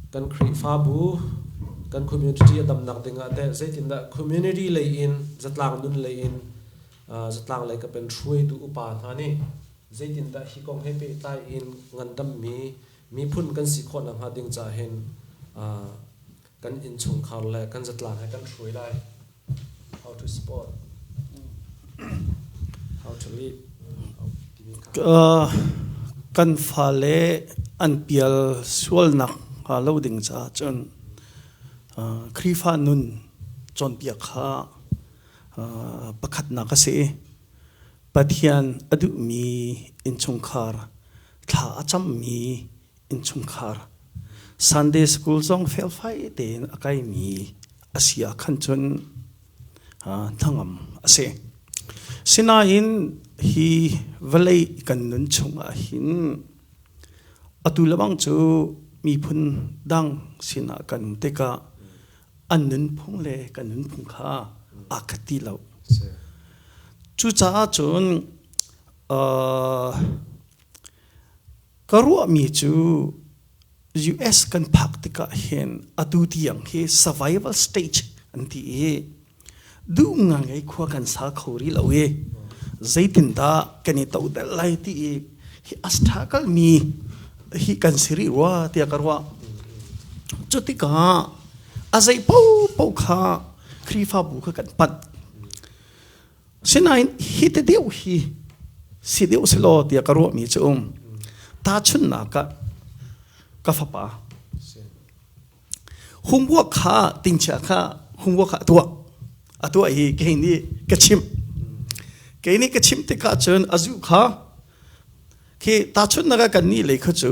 Kan Khrihfabu, kan community a damnak ding ah teh zeitindah community lei in, zatlang nun lei in uh, zatlang lei ka pen hruaitu upa hna nih zeitindah hi kong he pehtlai in ngandammi miphun kan si khawh nakhnga ding ca hin uh, kan innchungkhar le kan zatlang he kan hruai lai. Kan fale an pial sualnak hnga lo ding caah cun Khrihfa nun cawnpiak kha pakhatnak a si i Pathian a duhmi innchungkhar thla a cammi innchungkhar Sunday school zong felfai tein a kaimi a si ah khan cun hnangam a si. Sinain hi vawlei kan nun chungah hin atu lebang cu miphun dang sinah kan um tikah an nunphung le kan nunphung kha aa khat ti lo. Cucaah cun Ka ruahmi cu US kan phak tikah hin atu tiang hi survival stage an ti i duh ngai khua kan sa kho rih lo i zeitindah kan i todel lai ti i hi a struggle mi hi kan si rih rua tiah ka ruah cu tikah a zei paohpaoh kha Khrihfabu kha kan panh Sinain hi te deuh hi si deuh si law tiah ka ruahmi cu um. Tahchunnak ah ka fapa humbuak kha tingchia kha humbuak kha a tuah a tuah hi kei nih ka chimh kei nih ka chimh tikah cun a zu kha khi tahchunnak ah kannih lei kha cu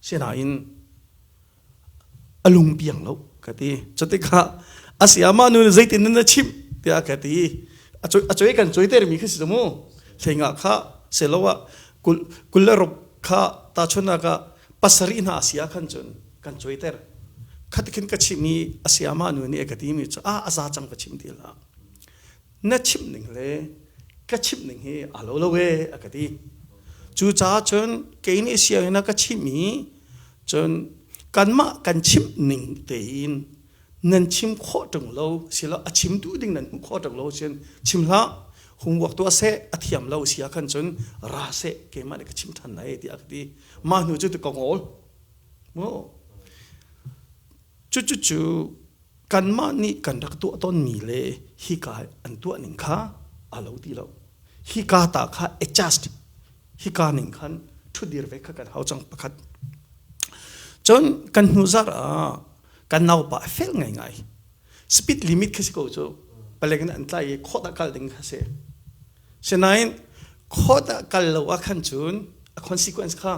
Sinain a lung piang lo ka ti. Cu tikah a si amah nu zeitin nan chimh tiah ka ti. A coi, a coi kan coi termi khi si mu. Hlengah kha selo ah kul, kul le ruk kha tahchunak ah pasarih hna a si ah khan cun kan coi ter. Khatikhin ka chimh i a si amah nu nih a ka timi cu a a za cang ka chim ti la. na chimh ning le ka chimh ning hi aa lo lo e a ka ti cucaah cun kei nih sianginn ah ka chimh i cun kanmah kan chimh ning tein nan chim khawh ṭung lo silo a chimtu ding nan hmuh khawh ṭung lo sin chim hlah homework tuah seh a thiam lo si ahkhan cun ra seh keimah nih ka chim ṭhan lai tiah a ka ti mah hnu cu ti ka ngol mu Cucucu kanmah nih kan rak tuah tonmi le hika an tuah ning kha aa lo ti lo. Hika ta kha adjusted hika ning khan ṭhudir ve kha kan hau cang pakhat. Cun kan hnu zar ah kan naupa a fel ngaingai. Speed limit khi si ko cu. Palek in an tlai i khawh dah kal ding kha si. Sinain khawt ah kal lo ah khan cun a consequence kha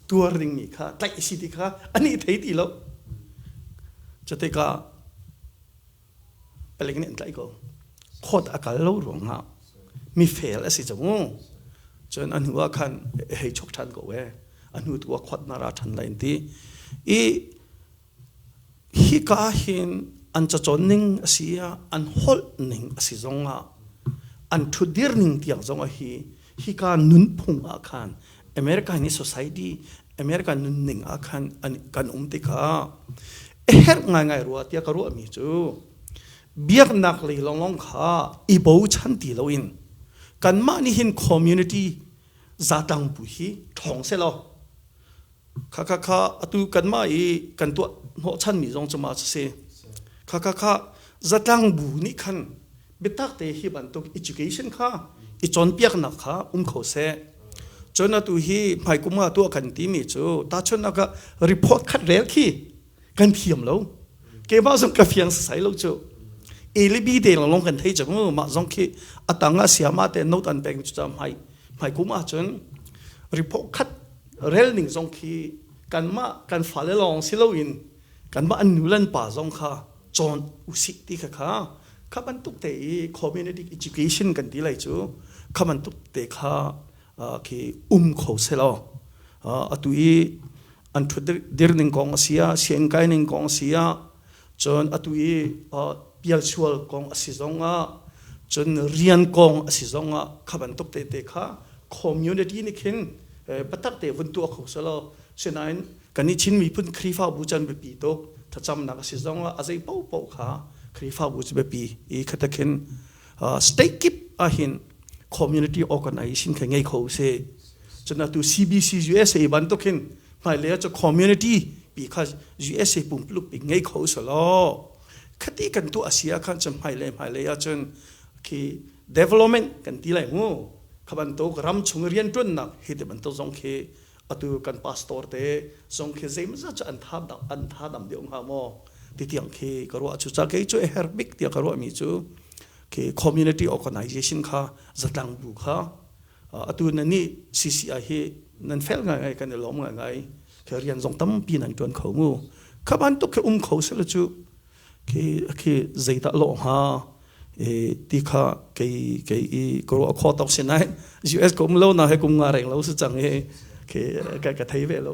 tuar dingmi kha tlaih a si ti kha ani thei ti lo cutika palek nih an tlaih ko khawt a kal lo ruang ah mi fail a si cang cun a hnu ah khan hei chok ṭhan ko e a hnu tu ah khawt na ra ṭhan lai an ti i Hika ahhin an cacawn ning a si ah an holh ning a si zong ah an ṭhutdir ning tiang zong ah hi hika nunphung ah khan American hi society American nunning ah khan an kan um tikah a herh ngaingai rua tiah ka ruahmi cu biaknak lei lawnglawng kha i bochan ti loin kanmah nih hin community zatlang pu hi ṭhawng selaw Khakha kha atu kanmah i kan tuah hnawhchanmi zong cu ma si. Khakha kha zatlang bu nih khan biatak te hi bantuk education kha i cawnpiaknak kha um kho seh. Cun atu hi hmaikum ah tuah kan timi cu tahchunnak ah report khat rel khi kan thiam lo keimah zong ka fiang sasai lo cu elibi te lang long kan thei chang mah zong khi atang a siama te not an peng cu mai mai kuma chun report khat rel ning zong khi kan ma kan fale long silo in kan ma an nulan pa zong kha chon usik ti kha kha khaban tuk te i community education kan ti lai chu khaman tuk te kha khi um kho selo atu i an thut dir ning kong a sia sian kai ning kong a sia cun atu i pial sual kong a si zong ah cun rian kong a si zong ah kha bantuk te te kha community ni khin patak te vun tu kho selo sinain kan i chin mi phun khrifa bu chan be pi to thacham nak a si zong ah a zei po po kha khrifa bu be pi i khatakhin state kip ahhin community organization khe ngei kho se chuna tu CBC USA bantukin hmailea chu community pi kha USA pumplup pi ngei kho solo khati kan tu asia khan chum hmaile hmaile achun khi development kan ti lai mu khaban to ram chung rian tun nak hi te ban to zong khi atu kan pastor te zong khi zeimawzat cu an tha dam an tha dam deuh hnga maw ti tiang khi ka ruah cu cakei cu a her bik tiah ka ruah mi cu khi community organization kha zatlang bu kha atu na ni CCI hi nan fel ngai ngai kan i lom ngai ngai khi rian zong tampi nan tuan kho mu kha ban tuk khi um kho sel cu khi zeidah lo hnga ti kha kei kei i ka ruah kho tok si nai US ko lo na he kum nga reng lo si cang i khi ka ka thei ve lo